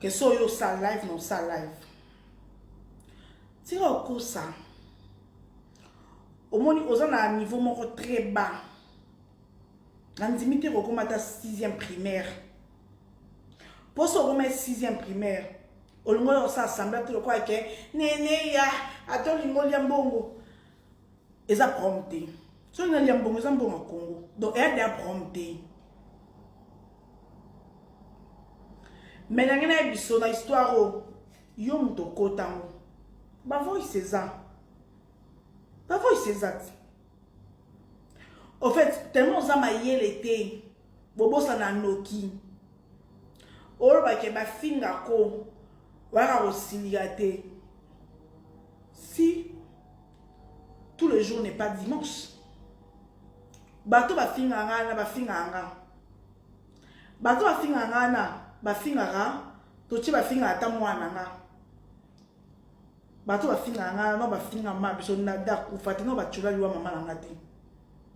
ke so yo osala live na osala live tika okosa omoni oza na niveau moko très bas nandimi te kokoma ata 6e primaire mposo okoma 6e primaire olingo ya kosala sambla te lokola ke nene ya ata olingo olya mbongo eza prom te soki na lia mbongo eza mbongo ya congo donc eya deya prom te me nange naye biso na histoire oyo oh, yo moto okota yango bavoice eza bavoice eza ti au fait tellement oza mayele te bobosana noki olobake bafinga ko waka kosilika te si tout le jour n'est pas dimanche bato bafingaka ngai na bafingaka ngai bato bafingaka ngai na bafingaka totie bafingaka ata mwana nga bato bafingaka ngai no bafinga ma biso nada kufa te no batyola liwa mama na nga te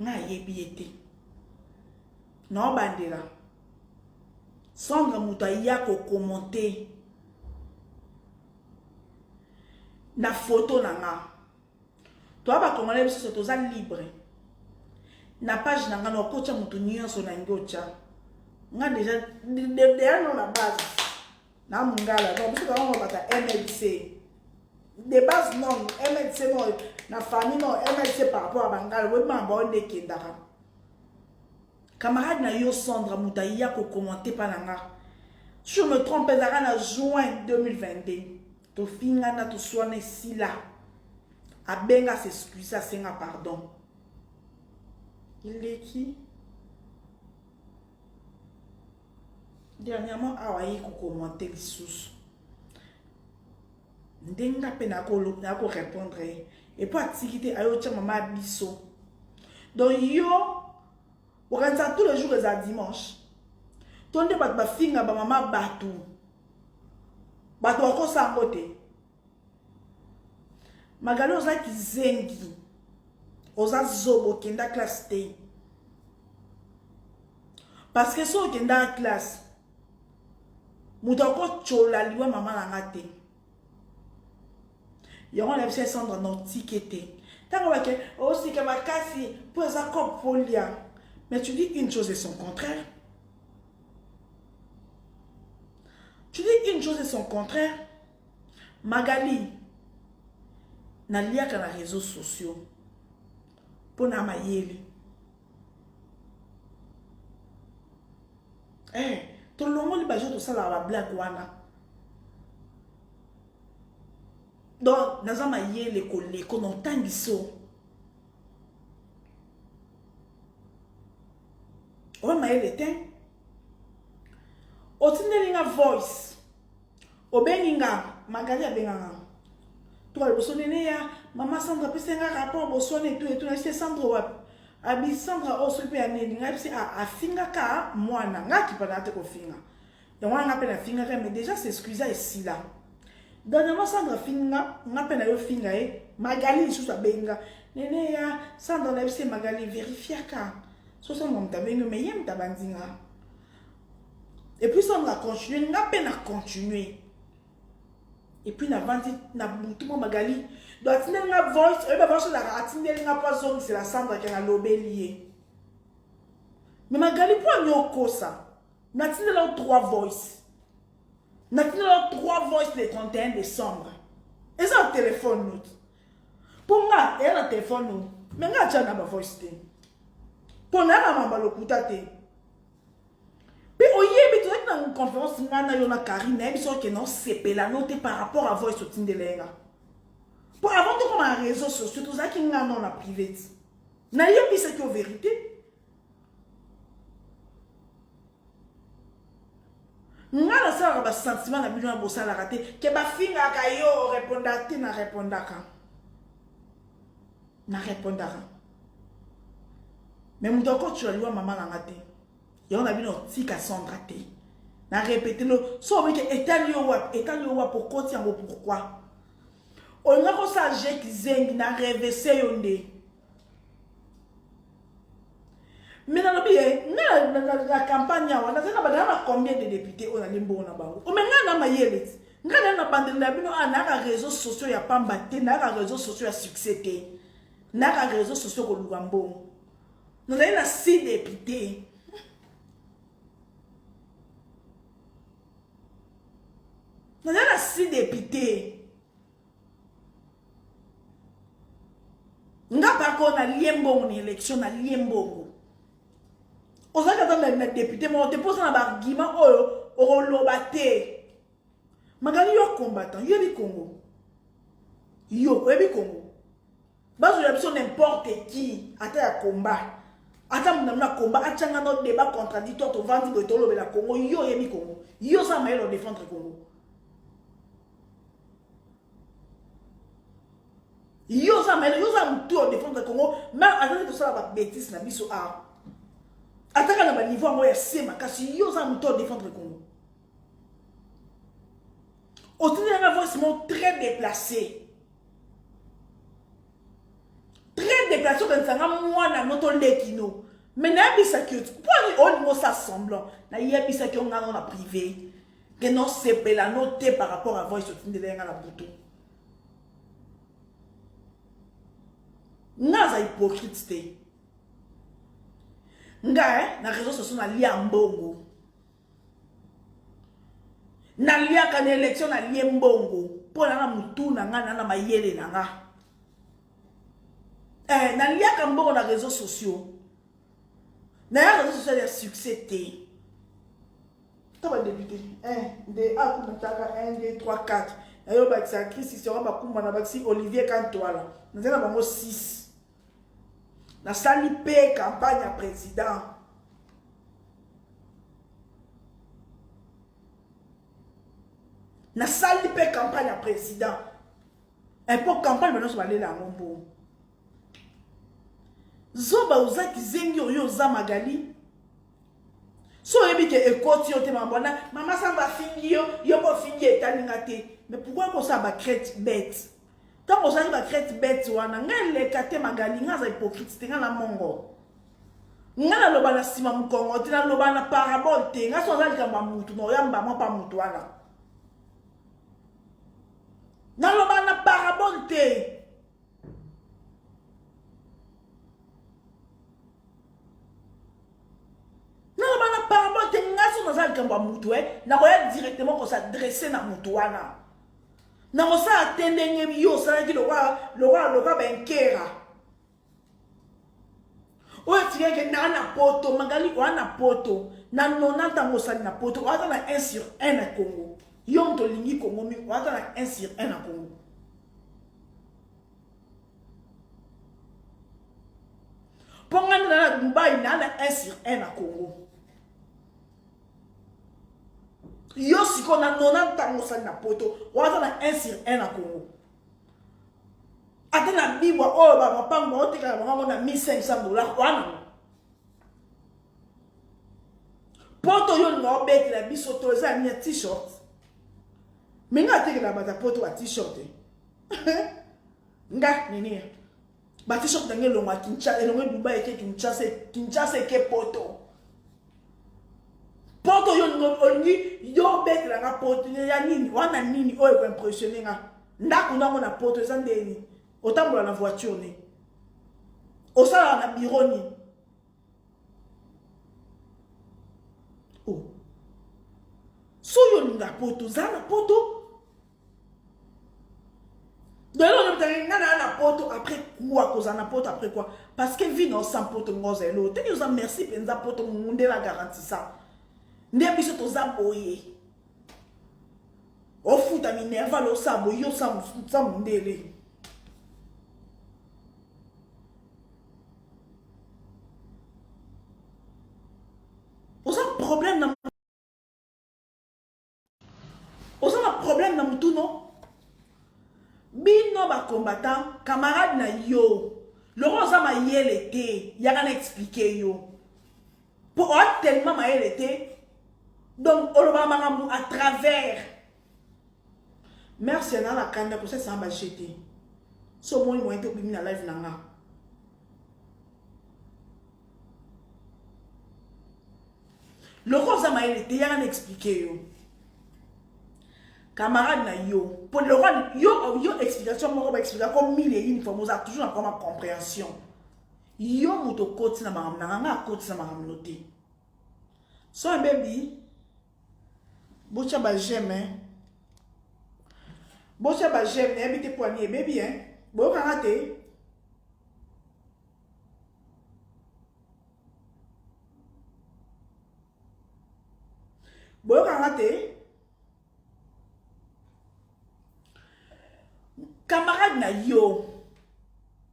nga ayebi ye te naobandela sandra moto aya kokomente na foto na nga toa bakongole bisoso toza libre na page na nga naokotya moto nyonso na yango otya nga deja deano na base na mungala donc biso bango babaka mlc de base non mlc non na famille non mlc par rapport ya bangala oyebi makambo bao nde ekendaka camarade na yo sandra moto aya kokommente mpa na nga si je me trompe ezalaka na juin 2022 tofingana toswana esila abenga s'excuse asenga pardon eleki dernièrement awa aye kokomante lisusu ndenge nga mpe nakorepondre ye epo atiki te ayo otya mama ya biso donc yo okanisa tous le jour eza dimanche to nde bato bafinga bamama bato bato bakosa yango te Magali oza kizengi. Oza zobo kenda classe te. Parce que so okenda classe moto akotyola liwa mama na nga te yango na biso esandra na otike te ntango bake osika makasi mpo eza cope polia mais tu dis une chose et son contraire tu dis une chose et son contraire Magali, naliaka na reseaux sociaux mpo na mayele. Eh, tolongoli bajo tosalaka bablake wana. Donc, naza mayele koleko na otangiso. Oyo mayele te. Otindeli nga voice. obengi nga magali abenga nga toka liboso nene ya mama sandra apesa nga rapport boswana etu etu nayebisi sandra wapi abi sandra oyo oh, soki mpe ya nini ngai bisi ah, afingaka mwana ngai akipanaka te kofinga yango wana ngai mpe nafingaka mais déjà s'excusa esila dernièrement sandra afinga ngai mpe nayo finga ye magali lisusu abenga nene ya sandra nayebisi magali verifiaka so sandra moto abengi yo mais ye moto abanzi ngai Et puis ça nga continuer nga pe na continuer. Et puis na vandi na butu mo magali. Donc atindeli nga voice, oyeba voice la atindeli nga pa zone c'est la samba qui a lobeli ye. Mais magali po anyo kosa. Na tindeli au trois voice. Na tindeli au trois voice le 31 décembre. Eza au téléphone note. mpo nga eya na telefone o me nga atya na bavoice te mpo na na mamba lokuta te mpe oyebi tozalaki na conférence ngai na yo na carine nayebi soki okende osepela no te par rapport à voice otindela ye nga mpo avant tokoma na réseau sociaux tozalaki ngai nao na private nayebisaki yo vérité nga nasalaka basentiment na bino ya bosalaka te ke bafingaka yo orepondaka te na repondaka na repondaka me moto akotyola liwa mama na nga te yango na bino tika sandra te na repete no so obi ke etali yo wapi etali yo wapi okoti yango pourkui olinga kosala je kizengi na revese yo nde mais nalobi ye na campagne awa nazali na badala na combien de député oyo nali mbongo na bango ome ngai na mayele ti ngai nali na bandeli na bino a nayaka réseau sociaux ya pamba te nayaka réseau sociaux ya succès te nayaka réseau sociaux koluka mbongo nazali na si député nazali na si député nga bako na lie mbongo na election na lie mbongo ozali ata na depute moko te mpo oza na baargument oyo okoloba te magali yo combattant yo yebi congo yo oyebi congo Bazo ya biso n'importe qui ata ya combat. Ata muna muna combat achanga no débat contradictoire to vandi boye to lobela Congo yo yebi Congo. Yo za mayelo défendre Congo. Yo za mayelo yo za mutu o défendre Congo même azali to sala ba bêtises na biso a. Ataka na ba niveau yango ya sema kasi yo za mutu o défendre Congo. otindi nanga voice moko très déplacé très déplacé okanisa nga mwana no toleki no me nayebisaki yo mpo olingi osa semblant nayebisaki yo ngana na privé ke nosepela no te par rapport à voice otindela yanga na butu nga aza hypocrite te nga eh, na réseau sociaux nalia mbongo naliaka na elektio nalie mbongo mpo na na motu na ngai na na mayele na ngai eh, naliaka mbongo na réseau sociaux naya réseau social ya succès te to badepute eh, nde akumataka 1 2 3 4 nayo bakisa christ sera bakumbana bakisi olivier kantwala nazali na bango 6 Nasali mpe campagne ya president. Nasali mpe campagne ya president. Mpo eh, campagne banyonso balela yango mbongo. Zoba oza kizengi oyo oza magali so oyebi ke ekoti yo te mabona mama sango afingi yo yo bofingi etali nga te mais pourkoi kosala bacrete bete Tango ozali ba crête bête wana ngai leka te magali ngai aza hypocrite te ngai na mongo ngai naloba na nsima mokongo te naloba na parabole te ngai so aza likambo ya motu na oyamba mwa mpa motu wana naloba na parabole te naloba na parabole te ngai so naza likambo ya motu e eh. nakoya directement kosadresse na motu wana nakosala te ndenge yo osalaki lokola lokola lokola bankera oyo atikaki naa na poto magali oa na poto na 90 yango osali na poto oata na 1 sur 1 na congo yo moto olingi congo mingi oata na 1 sur 1 na congo mpo ngai nana na dubai naa na 1 sur 1 na congo yo sikoyo na 90 ntango osali na poto waza na 1 sur 1 na congo ata na bibwa oyo oh, bamapango baotekaka bango yango na 1500 dollar wana poto yo olinga obetela biso to eza ya mia t-shirt me nga atekela bato ya poto ba t-shirt eh? nga nini Ba t-shirt na ngai elongwa Kinshasa, elongwe Dubai eke Kinshasa, Kinshasa eke Poto. Poto yo olingi yo obetela nga Poto ya nini? Wana nini oyo ko impressionner nga? Ndako nango na Poto eza nde nini? Otambola na voiture nini? Osala na bureau nini? Oh. Soki olinga Poto, zala na Poto. lelo olobetaka nga naa na poto après quoi kozala na poto après quoi parce que vie na osa poto nga oza eloo teni oza merci mpenza poto nde na garantisa nde biso toza boye ofuta minerval osa boye yo sa mondele oza na problème na mutu no bino ba combattant camarade na yo loko oza mayele te yaka na explike yo mpo oa tellement mayele te donc olobaka makambo à travers merci na na kanda kosesana baje te so omoni moyen te obimi na live na nga lokola oza mayele te yanga na explike yo camarade na yo mpo lokola yo yo explication moko baexplika ko mille une fois mozala toujours na koma comprehension yo moto okoti na makambo na nganga akoti na makambo no te so ebebi botya bajeme botya bajeme nayebi te mpo ani ebebi boyokanga te boyoka nga te camarade na yo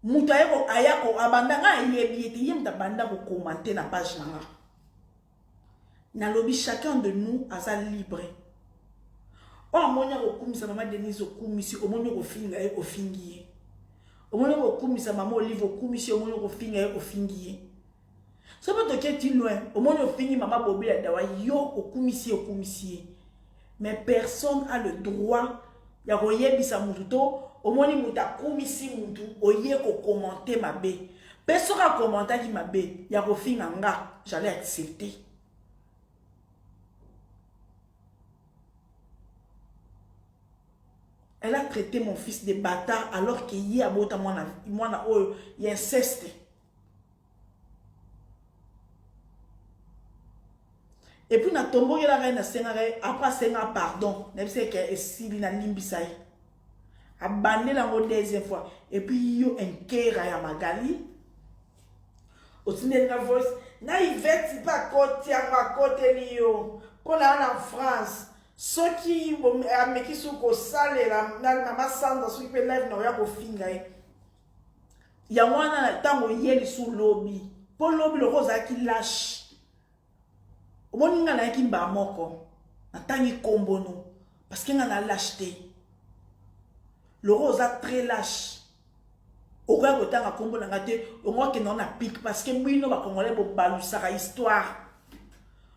moto ayeko ayako abanda nga ayebi ye te ye moto abanda kokomante na page na nga Nalobi chacun de nous aza libre. Oyo amoni akokumisa mama Denise okumisi, omoni okofinga ye, ofingi ye. Omoni okokumisa mama Olive okumisi ye, omoni okofinga ye, ofingi ye. Soki toketi loin, omoni ofingi mama Bobi ya dawa, yo okumisi ye, okumisi ye. mais personne a le droit ya koyebisa mutu to omoni mutu akumisi mutu oye kokomante mabe mpe soki akomantaki mabe ya kofinga nga jali accepte elle a traité mon fils de bata alors que ye abota mwana, mwana oyo ya inceste Et puis na tombo yela gai na senga gai après senga pardon na bise ke esili na limbisa ye abandela yango deuxième fois et puis yo enkera ya magali otindeli nga voice na iveti mpe akoti yango akoteli yo mpo na na france soki ameki soki kosalela na mama sandra soki mpe live na oya kofinga ye yango wana na ntango oye lisu lobi mpo lobi loko ozalaki lashe omoni ngai nayaki mbaa moko natangi nkombono parceke ngai na lashe te loko oza très lashe okoya kotanga nkombo na ngai te ongokende ngo na pike parceke bino bakongolai bobalusaka histoire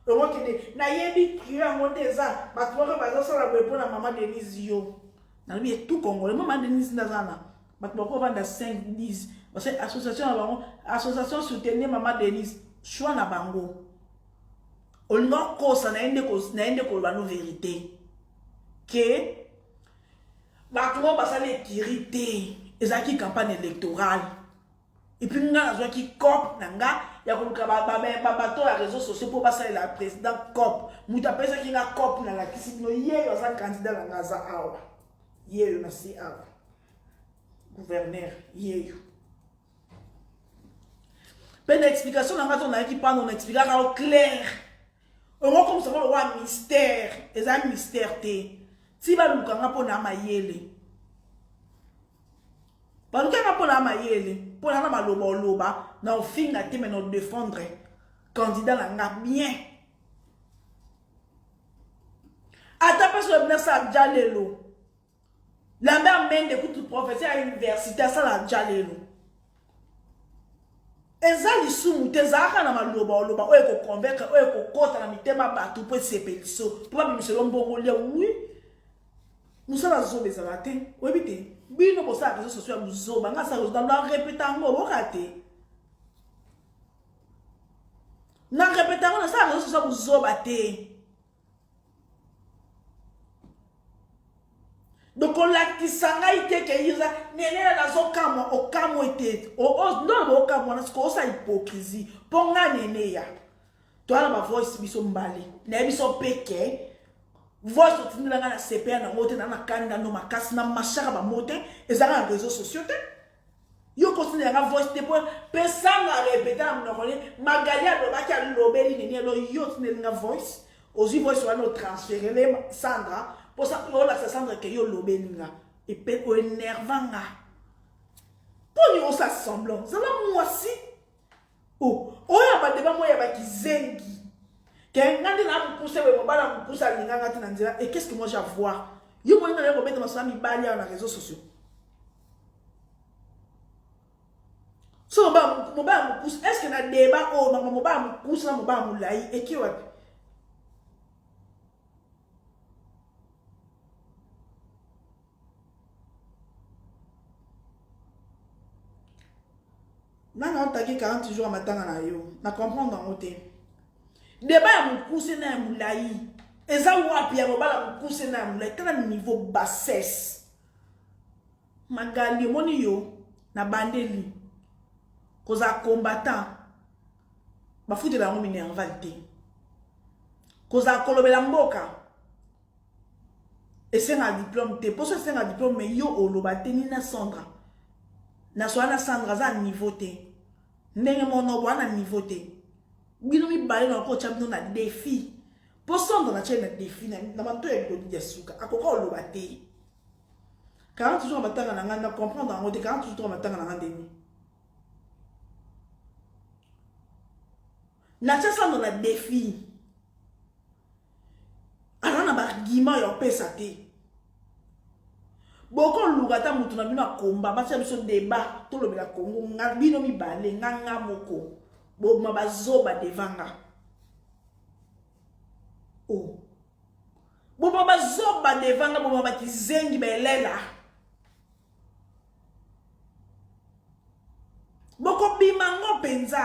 ongokende nayebi trio yango te eza bato moko bazosala boye mpo na mama denise yo nalobi etu kongole mama denise nde aza na bato bakovanda 5 10 parce que association na bango association soutenir mama denise choix na bango olinga okosa na ye nde koloba no verité ke bato oyo basali ekiri te ezalaki campagne électorale epuis nga nazwaki cop na nga ya koluka babato ya réseau sociaux mpo basalela président cop moto apesaki nga cop nalakisi bino yeyo aza candidat na nga aza awa yeyo na si awa gouverneur yeyo mpe na explication na nga to nayaki pano na explikaka yo claire okokomisa ngo lokola mystère eza mystère te ti baluka nga mpo na mayele balukaka mpo na mayele mpo na na maloba oloba na ofinga te me na odefendre candidat na nga bien ata mpe soki nasala jalelo lambert mende kutu professeur ya université asala jalelo eza lisumu te ezalaka na maloba oloba oyo ekoconvaincre oyo ekokota na mitema bato mpo esepeliso mpo babimiselo mbongo lia wi mosala zoba ezala te oyebi te bino bosala réseau sociaux ya buzoba nga asala ozala na repeta yango oyoka te na repeta yango nasala réseau sociaux ya buzoba te donc olakisa ngai te ke iza nenela nazokamwa okamwe te ndono okamwa na siko osa hypocrisie mpo nga neneya toyana bavoice biso mbale naye biso mpe ke voice otindela ngai na cpa nango te naa na kanda no makasi na mashaka bango te ezalaka na réseau sociaux te yo kosina yanga voice te po pesanga repeta na monoko ne magali alobaki alobeli nini elo yo otinelinga voice ozwi voice wana otransferele sandra mposa olakisa sandra ke yo olobeli nga epe oenerva nga mpo niosa semblant zala mwasi Oh, oyo ya badeba moya ba kizengi. Ke nga nde na mukuse boye mobala mukuse alinga nga te na nzela. Et qu'est-ce que moi j'ai voir? Yo moni na yo kobeta masolo ya mibali awa na réseaux sociaux. So mobala mobala mukuse, est-ce que na deba oyo mama mobala mukuse na mobala mulayi eki wapi? Nani aotake 40 jours ya matanga na yo na comprendre yango te deba ya mokuse na ya molai eza wapi ya kobala mokuse na ya molai tala niveau bassesse magali omoni yo na bandeli kozala combattant bafutela yango minerval te kozala kolobela mboka esengaka diplome te poso esengaka diplome me yo oloba te nina sandra nasola na sandra aza na niveau te ndenge monobo ana niveau te bino mibale na okotya bino na defi mpo sandra natyai na defi na mato ya bilodi ya suka akoka oloba te 40 jours ya matanga na ngai na comprendre yango te 40 jours ya matanga na ngai ndeni natya sandra na defi aza na baargument ya opesa te bokoluka ata moto na bino akomba batia biso deba tolobela kongo nga bino mibale nga nga moko bobima bazoba devanga o oh. bobima bazoba devanga bobima bakizengi belela bokobima ngo mpenza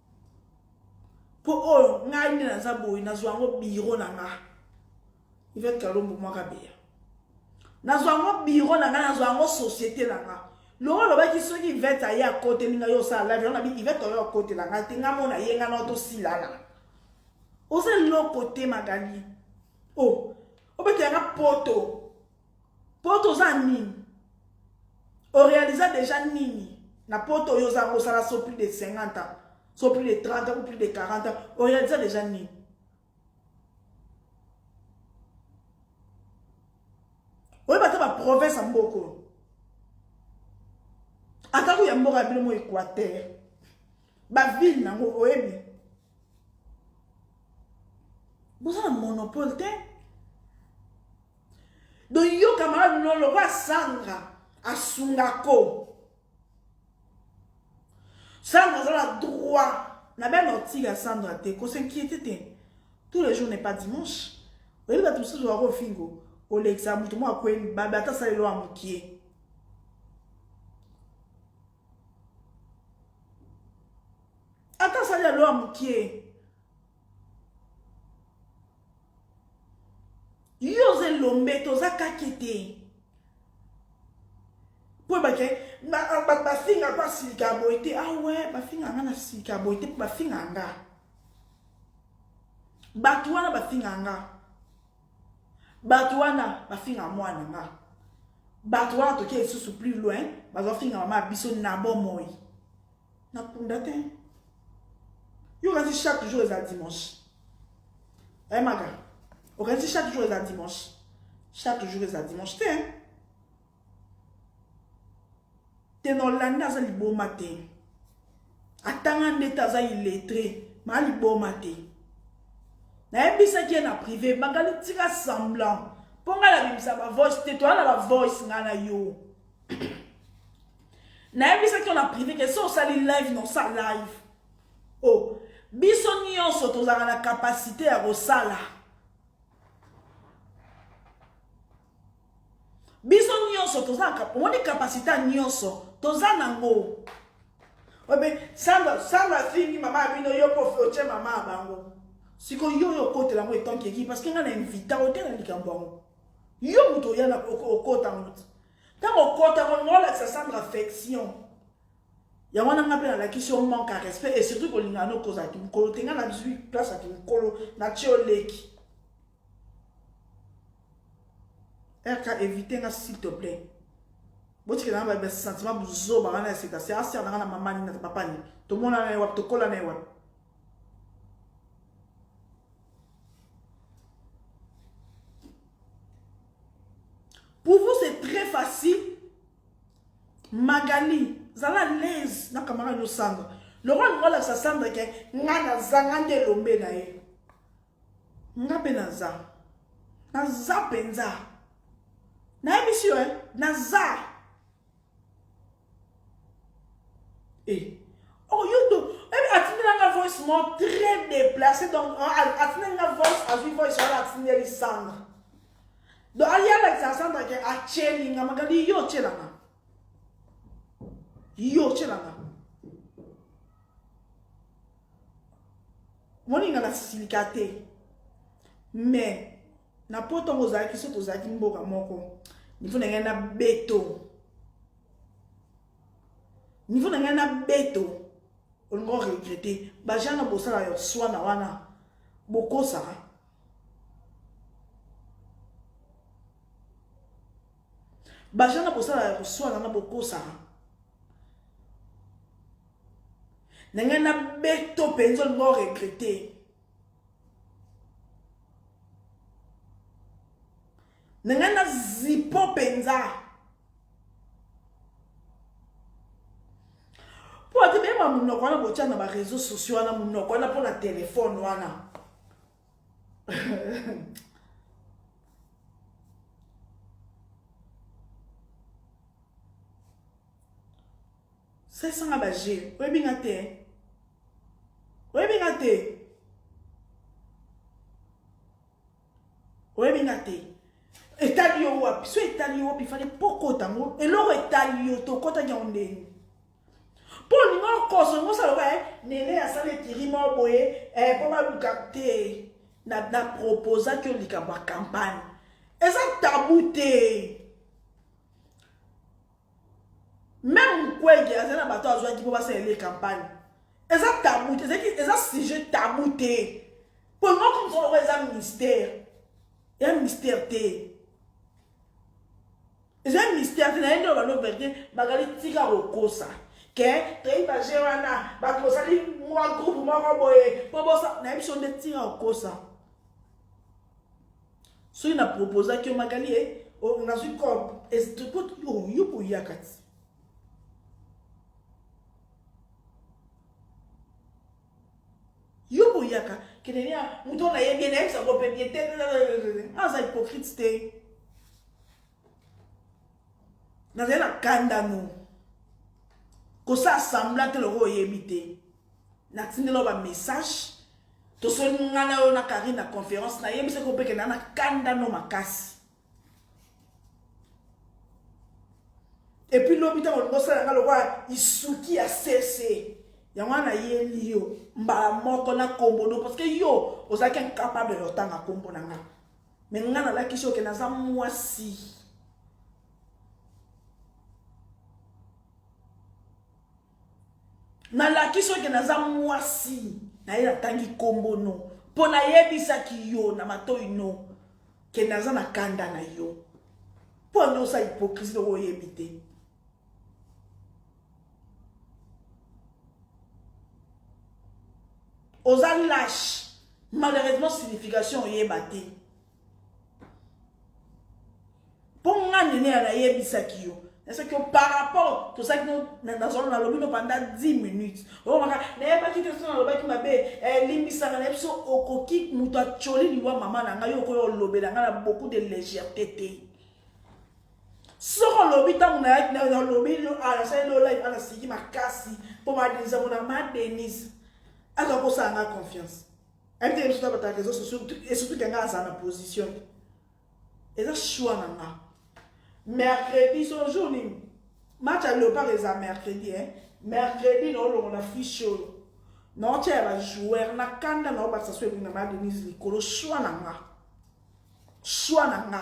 mpo oyo ngai nde naza boye nazwa yango biro na nga ivete kalombo mwaka beya nazwa yango biro na nga nazwa yango société na nga longo olobaki soki ivete aye akoteli ngai osala live yango nabi ivete oyo akotela ngai te ngai mona ye ngai nao tosilana oza eloko te magali o oh, obetela nga poto poto oza nini orealisa deja nini na poto oyo oza kosala so plus de 50 ans so plus de 30 ans ou plus de 40 ans orealisa deja nini oyeba ata baprovince ya mboka oyo atako ya mboka ya bino mo equateur bavile nango oyebi boza na monopole te donc yo camarade no lokola sandra asungako sandra aza na droit na bia na otika sandra te kosinquiete te tous les jours n'est pas dimanche oyebi bato mosusu wako ofingo olekisa moto moko akweli babe ata asaleli wa mokie ata asali ya loa mokie yo oza elombe toza kake te mpo ebake bafinga mpo asilika boye te awe ah bafinga nga na silika boye te mpo bafinga nga bato wana bafinga nga bato wana bafinga mwana nga bato wana toke lisusu plus loin bazofinga mama ya biso na bomoi nakunda te yo okanisi chaque jour eza dimanche ayemaka eh, okanisi chaque jour eza dimanche chaque jour eza dimanche te te na olanda aza liboma te atanga nde te aza iletre ma liboma te nayebisaki ye na prive bakali tika semblant mpo ngai nabimisa bavoice te toya na bavoice ngai na yo nayebisaki yo na prive ke so osali live na osa live o oh, biso nyonso tozalaka na kapasite ya kosala biso nyonso toza na omoni kapasite ya nyonso toza nango obe sandra sandra afingi mama ya bino yo mpo otie mama ya bango sikoyo yo oyo okotela yango etanke eki parce que ngai na invita ote na likambo yango yo moto oya okota yango ti ntango okota yango lingo olakisa sandra affection yango wana ngai mpe nalakisi yo manque ya respect et surtout kolingana okozaki mokolo te ngai nazwi place ya kimokolo na tie oleki RK éviter nga s'il te plaît. Botikela nga ba sentiment buzoba wana ya sika. C'est asser na nga na maman ni na papa ni. Tomona na ye wapi, tokola na ye wapi. Pour vous c'est très facile. Magali, zala l'aise na camarade no sanga. Lokola nalakisa Sandra ke nga nazanga nde elombe na ye. Nga pe naza. Naza penza. Nayebisi yo eh, naza. Eh. Oh yo do, ebi eh, atindela nga voice mo très déplacé donc atindela nga voice azwi voice wana atindeli Sandra. Donc ayalakisa Sandra ke atyeli nga makanisi yo otyelanga. Yo otyelanga. moninga na silika te mais na po ntango ozalaki so tozalaki mboka moko nivo na ngai na beto nivo na ngai na beto olinga oregrete bajana bosala yo swana wana bokosaka bajana bosala ya koswana na bokosaka na ngai na beto mpenza olinga o regrete na ngai na zipo mpenza mpo ate beyeba monoko wana botya na bareseau sociaux wana monoko wana mpo na telefone wana Salisa nga ba jeu. Oyebi nga te. Oyebi nga te. Oyebi nga te. Etali yo wapi? So etali yo wapi fale pokota yango. Eloko etali yo tokotaki yango ndenge. Mpo olinga okoso ngo osala loka eh, nene asala etiri moko boye mpo eh, baluka te na, na proposaki yo likambo ya campagne eza tabu te Meme Mukwege azali na bato azwaki po basalela ye campagne. Eza tabou te, ezalaki eza sujet tabou te. Po yango okomisa lokola eza mystère. Eza mystère te. Eza mystère te na ye nde obando verite bakali tika kokosa. Ke toyebi ba jeu wana bato bosali mwa groupe moko boye po bosa na ye biso nde tika kokosa. soki na proposaki yo magali e oh, nazwi corp estrikot oh, yo boya kati yo boyaka kenenia moto na ye bien ayebisa ngo mpe bien te aza hypocrite te nazali na kandano kosala sambla te lokola oyebi te na tindela yo ba message tosoni nga na yo na karine na conférence na yebisa ko mpe kenda na kanda no makasi epuis lobi ntango olingi osala nga lokola isuki ya sese yango wana nayeli yo mbala moko na kombo no parce que yo ozalaki incapable ya otanga kombo na nga me nga nalakisi oke naza mwasi nalakisi oke naza mwasi naye natangi nkombo no mpo nayebisaki yo na matoi no ke naza na kanda na yo mpo ande osa hypocrisie loko oyebi te oza lâche malheureusement signification oyeba te mpo nga nene ya nayebisaki yo soki par rapport tozalaki nazolo nalobi no panda 10 minutes okomaka nayebaki te so nalobaki mabe eh, limbisaka na biso okoki moto acoli liwa mama na ngai yo okoya olobela ngai na beaucoup de légèreté te soki olobi ntango nalobi ah, nasali lolai ana ah, siki makasi mpo madenise yango na madenise aza kosala ngai confiance Ante ye biso bataka reseaux sociaux et surtout ke nga aza na position eza choix na nga mercredi so jour nini match ya leopard eza mercredi hein mercredi naolongola fiche oyo naotya ya bajoueur na kanda naobakisa so ebinga ma denise likolo choix na nga choix na nga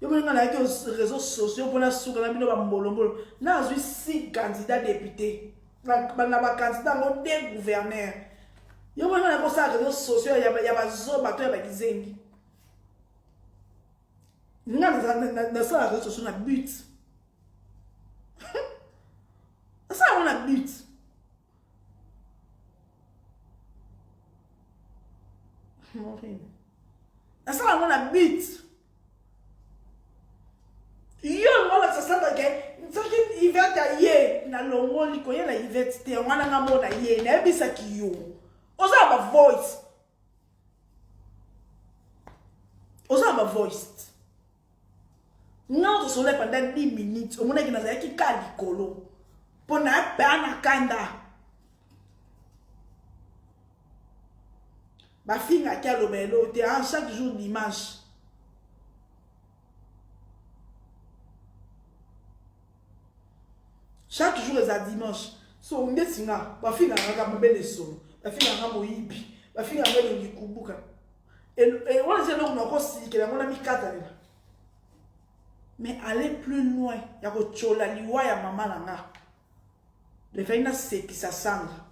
Yo moni nga nayaki aux réseaux sociaux mpo nasuka na bino bambolombolo nazwi si candidat député na bacandidat yango de gouverneur yo moni nga nayaki osala réseaux sociaux ya bazoba to ya bakizengi nga nasala réseaux sociaux na but nasala yango na but nasala yango na but yo yango olakisa sata ke soki ivete aye na longoli koye na ivete te yango wana nga mona ye nayebisaki yo oza na bavoice oza na bavoice nga ozosola pendant 10 minutes omonaki nazalaki ka likolo mpo na bana kanda bafingaki aloba eloo te a ah, chaque jour dimanche chaque jour eza dimanche so ndeti nga bafingaka kaka mobele esolo bafingaka moyibi bafingaka elongi kubuka wana eza eloko nakosilikela yango na mikatalela mais aller plus loin ya kotyola liwa ya mama na nga Nefeli na sekisa sanga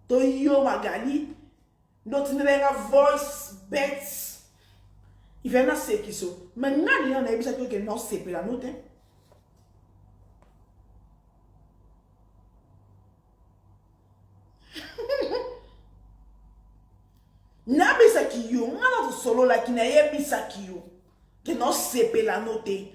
to yo magali ndo tindela nga voice bets ifai na sekiso me nani yo nayebisaki oke na osepela no te nabisaki yo nga na tosololaki nayebisaki yo ke na osepela no te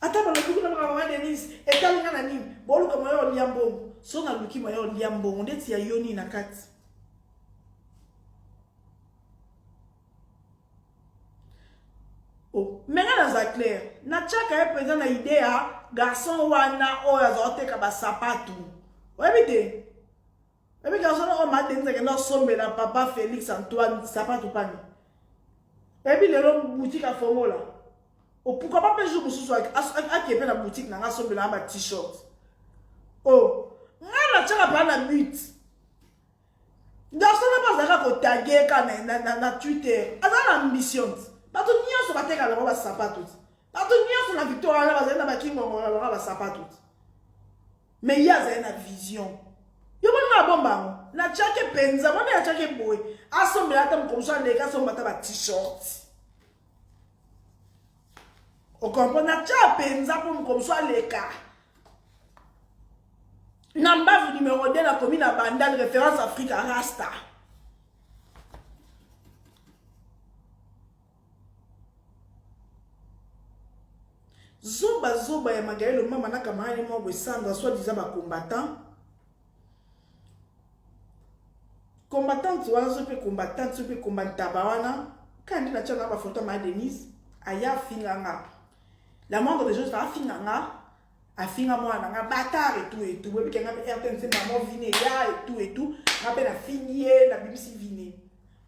ata balobi kuna baka mama denise etali nga na nini boluka moya olia mbongo so naluki moya olia mbongo ndeti ya yo nini na kati oh, menga naza claire natyaka ye mpenza na ide ya garçon wana oyo azakoteka basapato oyebi te Ebi garçon oyo ma Denise akenda osombela papa Felix Antoine sapatu pani. Ebi lelo boutique afongola. Pourquoi pas pe jour mosusu akepe na boutique na nga asombela na ba t-shirt. Oh, nga na chaka pa na but. Garçon na bazaka ko taguer ka na na, na, na Twitter. Azala ambition. Bato nyonso bateka na ba sapatu. Bato nyonso na Victoria bazali na ba kingongo na ba sapatu. mais ye azali na vision yo boni na bomba yango na tiaki mpenza boni na tiaki boye asombela ata mokomoso aleka asomba ata ba t-shirt okomprendre na tia mpenza mpo mokomoso aleka na mbavu numero 2 nakomi na bandal référence africa rasta Zoba zoba ya Magalie Lomama na camarade moko boye Sandra soit disant ba combattants. Combattante wana soki pe combattante soki pe combattaba wana kaka nde natya na ba photo ma Denise aya afinga nga la moindre des choses afinga nga afinga mwana na nga batar etu etu boyebi ke nga mpe rtnc mamo vine ya etu etu nga mpe nafingi ye nabimisi vine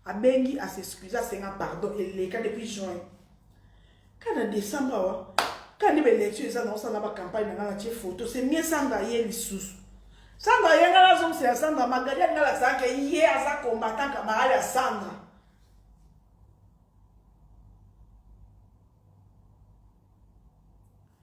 abengi asexcuse asenga pardon eleka depuis juin kaka na décembre awa kaka nde baelektio eza na osala bacampagne na nga natie photo semie sandra ye lisusu sandra ye nga nazongisela sandra magali alinga lazalaka ye aza combattant camarade ya sandra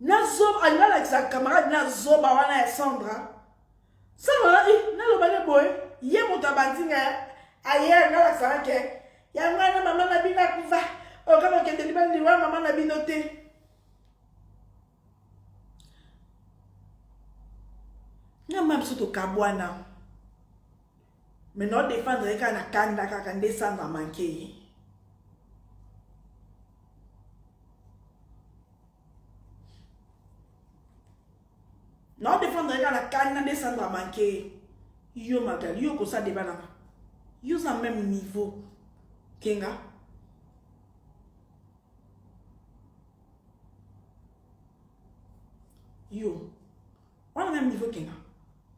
na zoba alinga alakisa camarade na zoba wana ya sandra sandra alaki naloba ne boye ye moto abandi nga ayere nalakisaka ke yango wana mama na bino akufa oka kokende libala liwa mama na bino te na mama biso tokabwana Mais no defendre ye kaka na kanda kaka nde sango amanke ye. Na defendre ye kaka na kanda nde sango amanke ye. Yo Magali, yo kosa deba na yo za même niveau kenga. Yo. wana meme niveau kena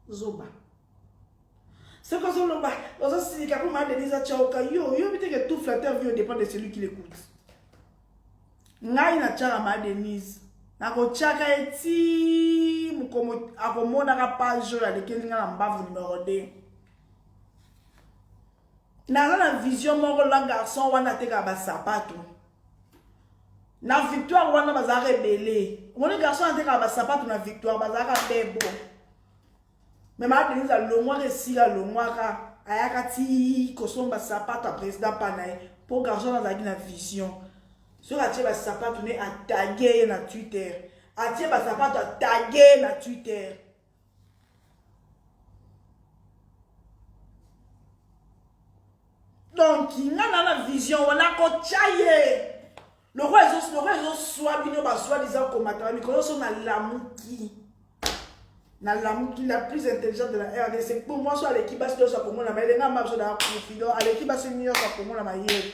zoba soki ozoloba ozosilika mpo ma denise atyauka yo oyobi te ke tout flatteur vie dépend de celui qui l'écoute ngai natyaka ma denise nakotyaka ye ti mokomo akomonaka page oyo alekeli ngai na mbavu numero 2 naza na vision moko la garçon wana atekaka basapato na victoire wana bazalaka ebele omoni garçon atekaka basapato na victoire bazalaka bebo me maa denise alongwaka esika alongwaka ayaka ti kosomba sapato ya président pa na ye mpo garçon wana azalaki na vision soki atie basapato ne atage ye na twitter atie basapato atage ye na twitter donc nga na na vision wana kotya ye lokola ezoswa bino baswa liza komataka mikolo nyonso nalamuki nalamuki la plus intelligente de la rdc po mwasi aleki basi nyonso akomona mayele nga mabiso na ya confident aleki basi nyonso akomona mayele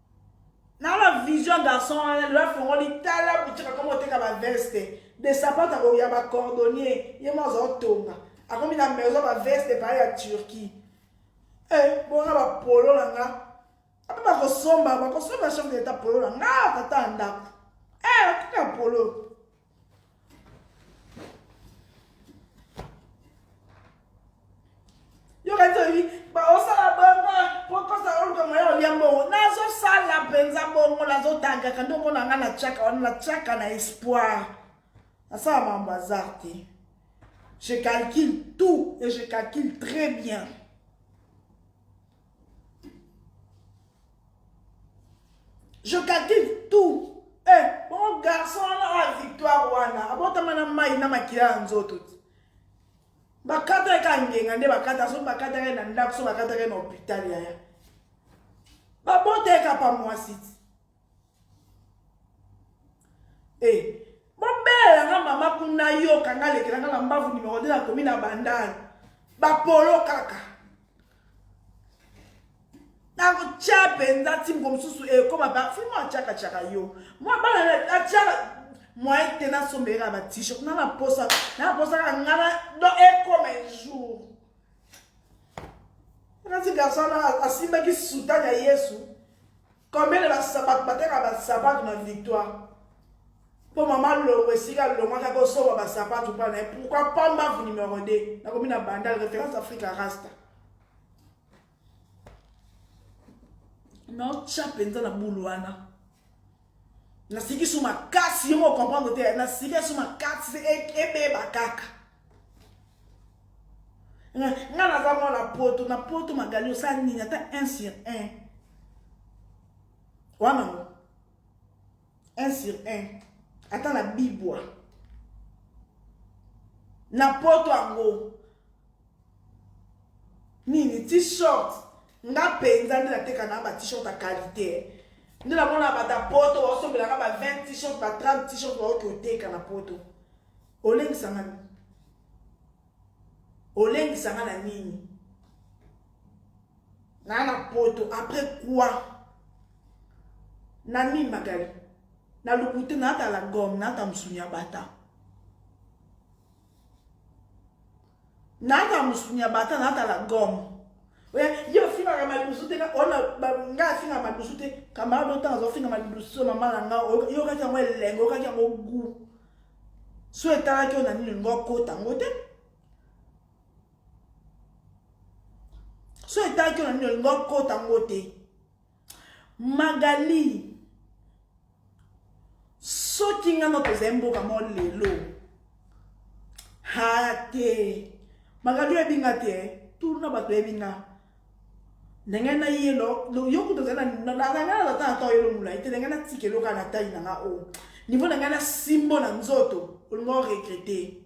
nala vision garçon wana lelo afongoli tala boutique akomi oteka baveste de sapata ya bacordonnier ye mo azaotonga akomi na maison baveste epai ya turquie e eh, bona bapolo na nga ape bakosomba bakosomba chef de leta polo na nga tata ya ndako e eh, akomi ya polo nalingaka nde omona ngai natiaka wana natiaka na espoir nasala mambo azar te je calcule tout et je calcule très bien je calcule tout eh, bon garçon wana oyo ah, victoire wana abotama na mai na makila ya nzoto ti bakata ye ka ngenga nde bakata soki bakataka ye na ndako so bakataka ye na hôpital yaya babota ye ka pa mwasi ti Eh, bobelela nga mama kuna yoka nga lekela nga na mbavu nimero 2 nakomi na bandani bapolo kaka nakotya mpenza ti moko mosusu ekoma eh, bafi mwa atyaka tyaka yo mwa bana atyaka mwaye te nasombelaka batishe kuna naposa naposaka ngana do ekoma eh, ejour nati garso wana asimbaki sutani ya yesu Combien de basapato bateka basapato na victoire mpo mama longo esika alongwaki akosomba basapato mpo na ye pourkui pambavu numero 2 nakomi na bandal référence afrique rasta naotya mpenza na bulu wana nasiki su makasi yo moko comprendre te nasiki ya su makasi ebeba kaka nga naza mwana poto na poto magali osala nini ata 1 sur 1 wana ngo 1 sur 1 ata na bibwa na poto yango nini t-shirt nga mpenza nde nateka na ba t-shirt ya qualité nde namona bata poto baosombelaka ba 20 t-shirt ba 30 t-shirt baoki oteka na poto Olengisa nga nini? Olengisa nga na nini? Na na poto après quoi? Na nini Magali? Na lokuta na ata la gomme, na ata musuni ya bata. naata musuni ya bata naata la gomme oya ye ofingaka madusu te ona nga afinga madusu te camarade oyo ntango azofinga madusu oyo mama na nga oyokaki yango elengo oyokaki yango gu so etalaki oyo na nini olingo okota yango te so etalaki oyo na nini olingo okota yango te magali soki nga no tozali mboka mo lelo ha te magali oyebi nga te tulu na bato oyebi nga ndenge na ye yo kutu ozali nananana ata ata oyelo molai te ndenge natika eloka na tai na nga o oh. nivo na ngai na simbo na nzoto olingo regrete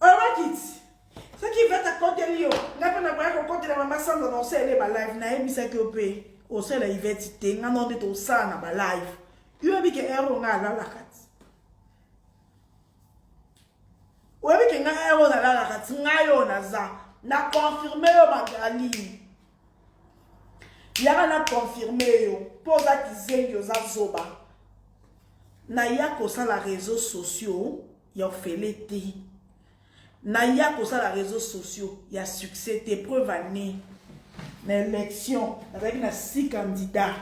Orakiti. soki ivete akoteli yo ngai mpe nakoya kokotela mama sanza na osalela ye balive nayebisaki yo mpe osalela ivete te ngai nao nde tosala na balive yo oyebi ke ero ngai alalaka ti oyebi ke ngai ero nalalaka ti ngai oyo naza na confirme yo magali yaka na confirme yo mpo oza kizengi oza zoba naya kosala réseau sociaux ya ofele te naya kosala réseau sociaux ya succès te preuve année na élection nazalaki na six candidat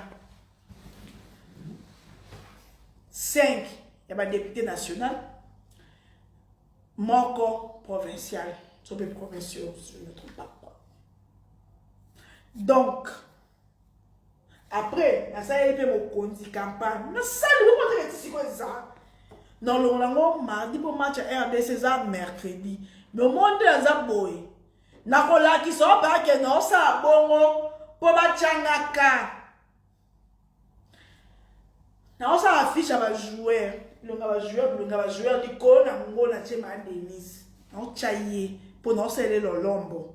5 ya badepute national moko provincial sope provinciaux je ne trompe pas donc après nasaleli mpe mokonzi campagne nasali omataka ti sikoyo eza nolongola yango mardi mpo match ya rdc eza mercredi me omoni nde naza boye nakolakisa oyo bakende osala bongo mpo batyangaka naosala affiche ya bajoueur longa bajoueur longa bajoueur likolo na yango natye ma denise naotya ye mpo naosalele lolombo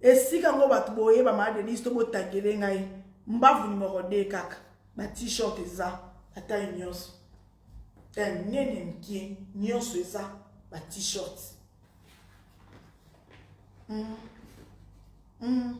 Esika ngo batu boye ba ma Denise to bo tagele ngai mbavu numero 2 kaka ba t-shirt eza bataille nyonso eh, nene mkie nyonso eza ba t-shirt mm. Mm.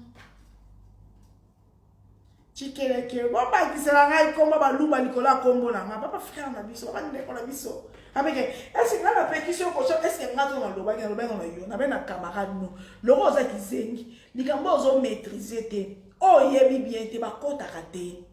cikeleke bobakisela ngai nkombo baluba likolo ya nkombo na ngai papa frere na biso papa ndeko na biso abeke ese ngai napekisi yo kosha eske ngai to nalobaki nalobaki na yo nabe na camarade no loko oza kizengi likambo oyo ozo maîtrise te oyo oyebi bien te bakotaka te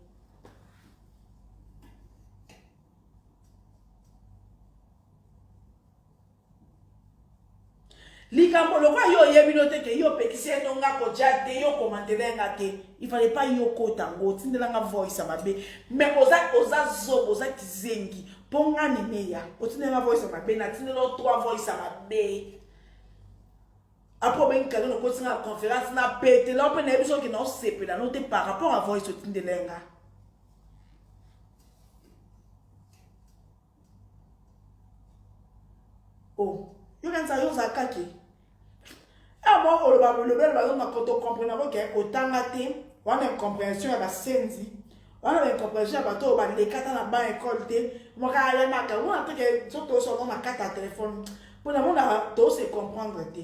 Likambo lokola yo oyebi no te ke yo opekisi ye no nga koja te yo komantele nga te il fallait pas yo kota ngo otindela nga voice ya mabe mais oza oza zobo oza kizengi mpo nga neneya otindela nga voice ya mabe natindela yo trois voice ya mabe apres obengi kado nokosi nga conférence na petela mpe nayebi soki na osepela no te par rapport à voice otindela nga Oh, yo kanisa yo oza kaki abo ah, oloba bolobela bazo na koto comprendre ko ke otanga te wana incomprehension ya basenzi wana ba incomprehension ya bato oyo balekata na ba ekole te moka alemaka wana teke so tosolo na kata ya telefone mpo namona tose comprendre te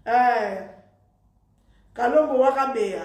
eh, kalombo waka beya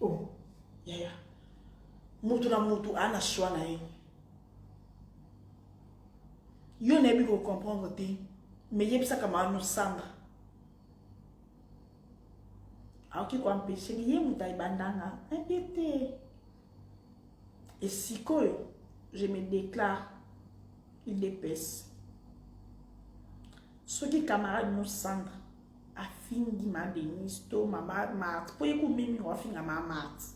oh yaya mutu na mutu ana choix na ye yo nayebi kocomprendre te mais yebisaka maano sandra aoki koampeshe ye moto ayebandanga aye te Et sikoyo, je me déclare UDPS. Soki camarade no Sandra afingi ma Denise to ma Marthe, po yeko mimi ko afinga ma Marthe.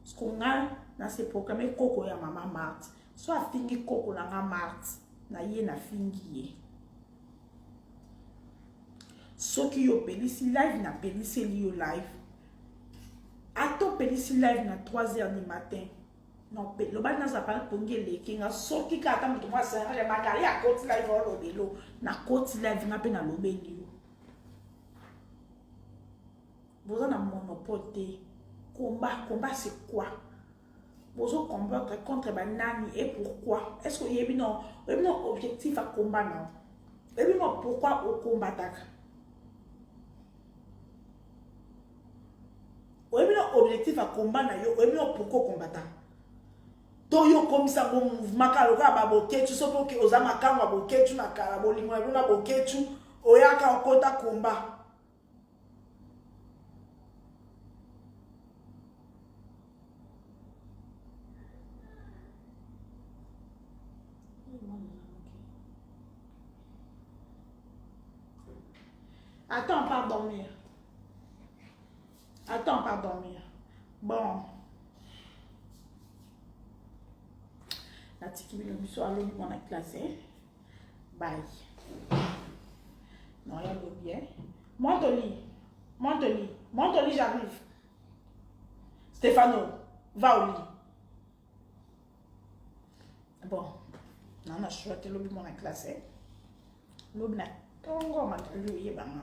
Parce que nga na se proclamer koko ya mama Marthe. So afingi koko na nga Marthe, na ye na fingi ye. Soki yo pelisi live na peliseli yo live. ata opelisi live na 3 heures du matin nope lobali nazapa pongi eleki nga soki kaka ata moto mwasi ya bakali akoti live olobelo nakoti live nga mpe nalobeli yo boza na monopole te combat combat c'est quoi bozo combattre contre banani et pourquoi est ce que oyebi no oyebi no objectif ya combat nao oyebi no pourquoi okombataka oyebi na objectif ya combat na yo oyebi na pourquoi okombata to yo okomisa ngo mouvement kaka lokola baboketu soki oke oza makango ya boketu na kala bolingo na bino na boketu oyaka okota komba Attends, pas dormir. Attends, pas dormir. Bon. natiki bino biso alobi mwana classe eh? bai non ya lobi eh? monte au lit monte au lit monte au lit j'arrive Stefano va au lit bon na na choix te lobi mwana classe lobi na tongo matali oyebanga